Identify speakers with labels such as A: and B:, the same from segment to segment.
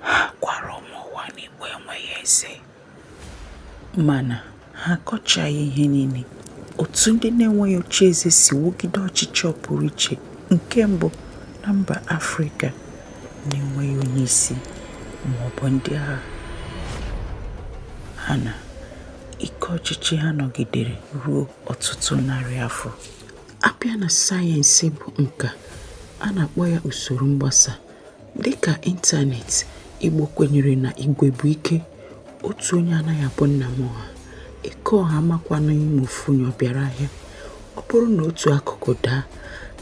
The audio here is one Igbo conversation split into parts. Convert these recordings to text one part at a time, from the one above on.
A: ha gwara ụmụ ụwa na igbo enweghị eze mana ha akọchaghị ihe niile otu ndị na-enweghị oche eze si wugide ọchịchị ọpụrụ iche nke mbụ na mba afrịka na-enweghị onye isi maọbụ ndị agha ha na ike ọchịchị ha nọgidere ruo ọtụtụ narị afọ a bịa na sayensị bụ nka a na-akpọ ya usoro mgbasa Dịka ịntanetị, Igbo kwenyere na igwe bụ ike, otu onye anaghị abụ nna m ọha, Eke Ọha amakwanụ ma ofu onye ọ bịara ahịa. Ọ bụrụ na otu akụkụ daa,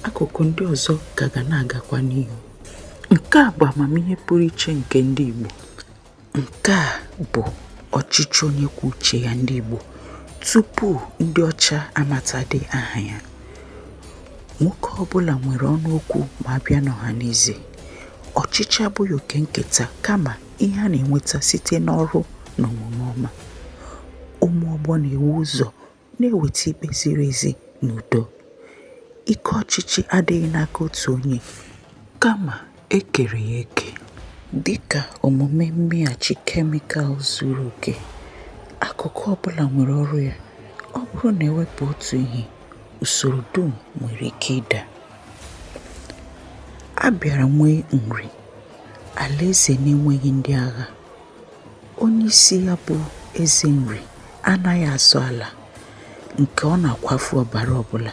A: akụkụ ndị ọzọ ka ga na-agakwa n'ihu. Nke a bụ amamihe pụrụ iche nke ndị Igbo. Nke a bụ ọchịchị onye kwuo uche ya ndị Igbo tupu ndị ọcha amatadị aha ya. Nwoke ọbụla nwere ọnụ okwu ma a bịa n'ọhanaeze. Ọchịchị abụghị oke nketa kama ihe a na-enweta site n'ọrụ na omume ọma. Ụmụ ọgbọ na-ewu ụzọ na-eweta ikpe ziri ezi na udo. Ike ọchịchị adịghị n'aka otu onye, kama e kere ya eke. Dị ka omume mmeghachi kemikal zuru oke, akụkụ ọ bụla nwere ọrụ ya. Ọ bụrụ na e wepụ otu ihe, usoro dum nwere ike ịda. A bịara nwee Nri, alaeze na-enweghị ndị agha. Onyeisi ya bụ Eze Nri anaghị azọ ala nke ọ na-akwafu ọbara ọbụla,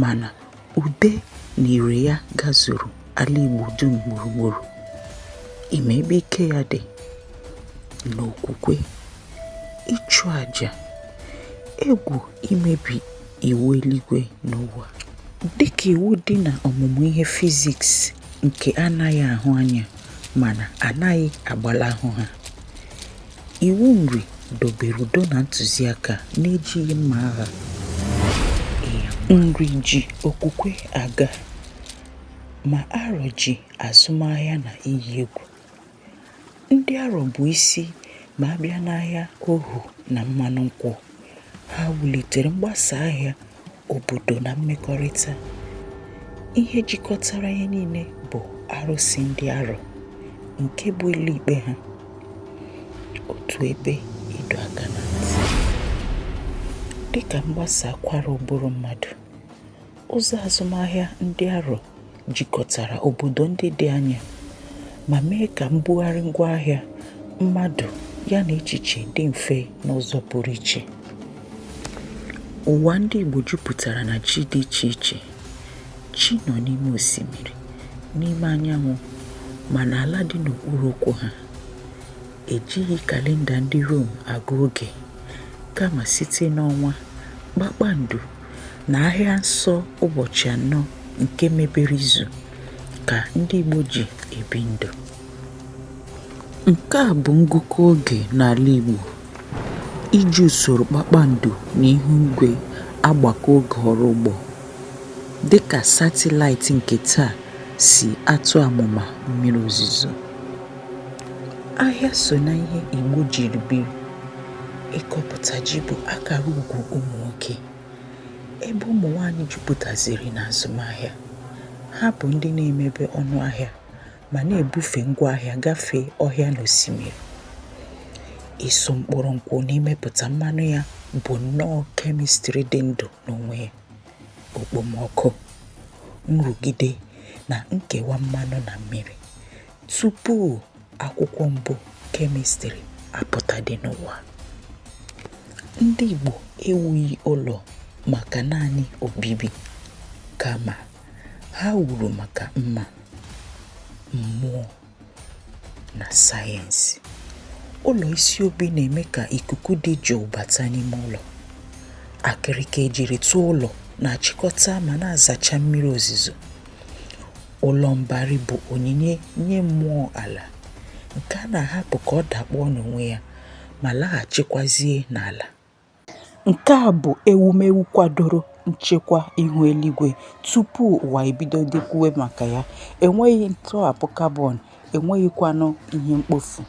A: mana ude na ire ya gazuru ala Igbo dum gburugburu. Ị ma ebe ike ya dị n'okwukwe, ịchụ aja, egwu imebi iwu eluigwe na ụwa. Dịka iwu dị na ọmụmụ ihe fiziks nke anaghị ahụ anya, mana anaghị agbalahụ ha iwu nri dobere udo na ntụziaka n'ejighị mma agha nri ji okwukwe aga ma arọ ji azụmahịa na iyi egwu ndị arọ bụ isi ma a bịa n'ahịa ohu na mmanụ nkwụ ha wulitere mgbasa ahịa obodo na mmekọrịta ihe jikọtara ihe niile bụ arụsị ndị arọ nke bụ ụlọ ikpe ha otu ebe ịdọ aka na ntị dịka mgbasa akwara ụbụrụ mmadụ ụzọ azụmahịa ndị arọ jikọtara obodo ndị dị anya ma mee ka mbugharị ngwaahịa mmadụ ya na echiche dị mfe n'ụzọ pụrụ iche. Ụwa ndị Igbo jupụtara na chi dị iche iche. Chi nọ n'ime osimiri, n'ime anyanwụ ma n'ala dị n'okpuru ụkwụ ha. Ejighị kalenda ndị Rom agụ oge, kama site n'ọnwa, kpakpando na ahịa nsọ ụbọchị anọ nke mebere izu ka ndị Igbo ji ebi ndụ nke a bụ ngụkọ oge n'ala Igbo iji usoro kpakpando na ihu igwe agbakọ oge ọrụ ugbo dịka satịlaịtị nke taa si atụ amụma mmiri ozuzo. ahịa so na ihe Igbo jiri biri ịkọpụta ji bụ akara ugwu ụmụ nwoke ebe ụmụ nwanyị jupụtaziri na azụmahịa ha bụ ndị na-emebe ọnụ ahịa ma na-ebufe ngwa ahịa gafee ọhịa na osimiri ịsụ mkpụrụ nkwụ na imepụta mmanụ ya bụ nnọọ kemistri dị ndụ n'onwe ya okpomọkụ nrụgide na nkewa mmanụ na mmiri tupu akwụkwọ mbụ kemịstrị apụtadị n'ụwa ndị Igbo ewughị ụlọ maka naanị obibi kama ha wuru maka mma mmụọ na sayensị ụlọ isi obi na-eme ka ikuku dị jụụ bata n'ime ụlọ akịrịka ejiri tụọ ụlọ na-achịkọta ma na-azacha mmiri ozuzo Ụlọ mbari bụ onyinye nye mmụọ ala nke a na-ahapụ ka ọ dakpọọ n'onwe ya ma laghachikwazie n'ala. Nke a bụ ewumewu kwadoro nchekwa ihu eluigwe tupu ụwa ebidodị kwuwe maka ya. Enweghị ntọhapụ kabọn, enweghịkwanụ ihe mkpofu.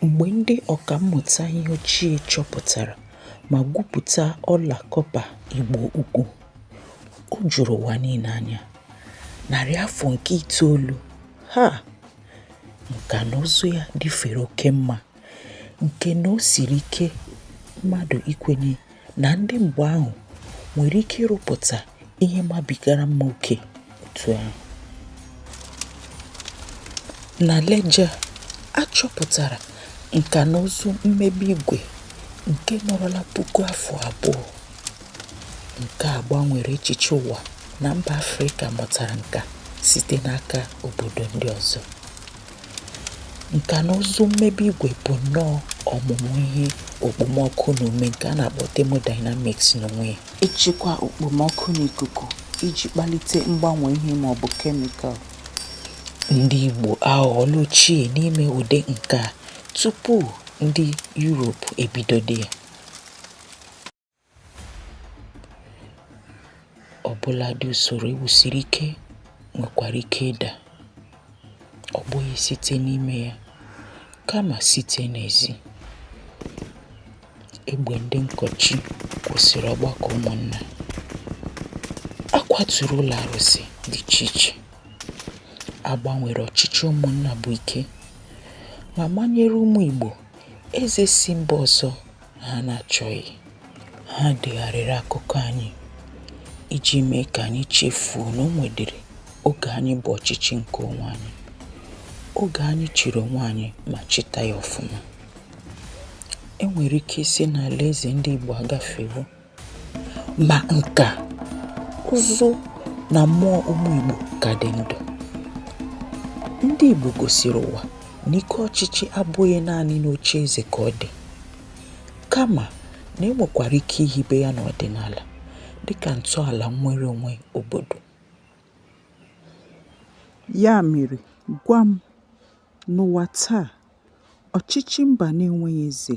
A: Mgbe ndị ọka mmụta ihe ochie chọpụtara ma gwupụta ọla kọpa Igbo Ukwu, o juru ụwa niile anya. Narị afọ nke itoolu, ha! Nka na ụzụ ya dịfere oke mma nke na o siri ike mmadụ ikwenye na ndị mgbe ahụ nwere ike ịrụpụta ihe mabigara mma oke otu ahụ. Na Lejja, a chọpụtara nka na ụzụ mmebe igwe nke nọrọla puku afọ abụọ. Nke a gbanwere echiche ụwa na mba Afrịka mụtara nka site n'aka obodo ndị ọzọ. Nka na ụzụ mmebe igwe bụ nnọọ ọmụmụ ihe okpomọkụ na ume nke a na-akpọ thermodynamics n'onwe ya. Ịchịkwa okpomọkụ na ikuku iji kpalite mgbanwe ihe ma ọ bụ kemikal. Ndị Igbo aghọọla ochie n'ime ụdị nka a tupu ndị Europe ebidodị ya. Ọbụladị usoro e wusiri ike nwekwara ike ịda, ọ bụghị site n'ime ya kama site n'ezi. Egbe ndị nkọchi kwụsịrị ọgbakọ ụmụnna. A kwaturu ụlọ arụsị dị iche iche. A gbanwere ọchịchị ụmụnna bụ ike ma manyere ụmụ Igbo eze si mba ọzọ ha na-achọghị ha degharịrị akụkọ anyị iji mee ka anyị chefuo na o nwedịrị oge anyị bụ ọchịchị nke onwe anyị oge anyị chịrị onwe anyị ma chịta ya ọfụma e nwere ike ịsị na alaeze ndị Igbo agafewo ma nka ụzụ na mmụọ ụmụ Igbo ka dị ndụ ndị Igbo gosiri ụwa na ike ọchịchị abụghị naanị n'oche eze ka ọ dị kama na e nwekwara ike ihibe ya n'ọdịnala dịka ntọala nnwere onwe obodo ya mere gwa m n'ụwa taa ọchịchị mba na-enweghị eze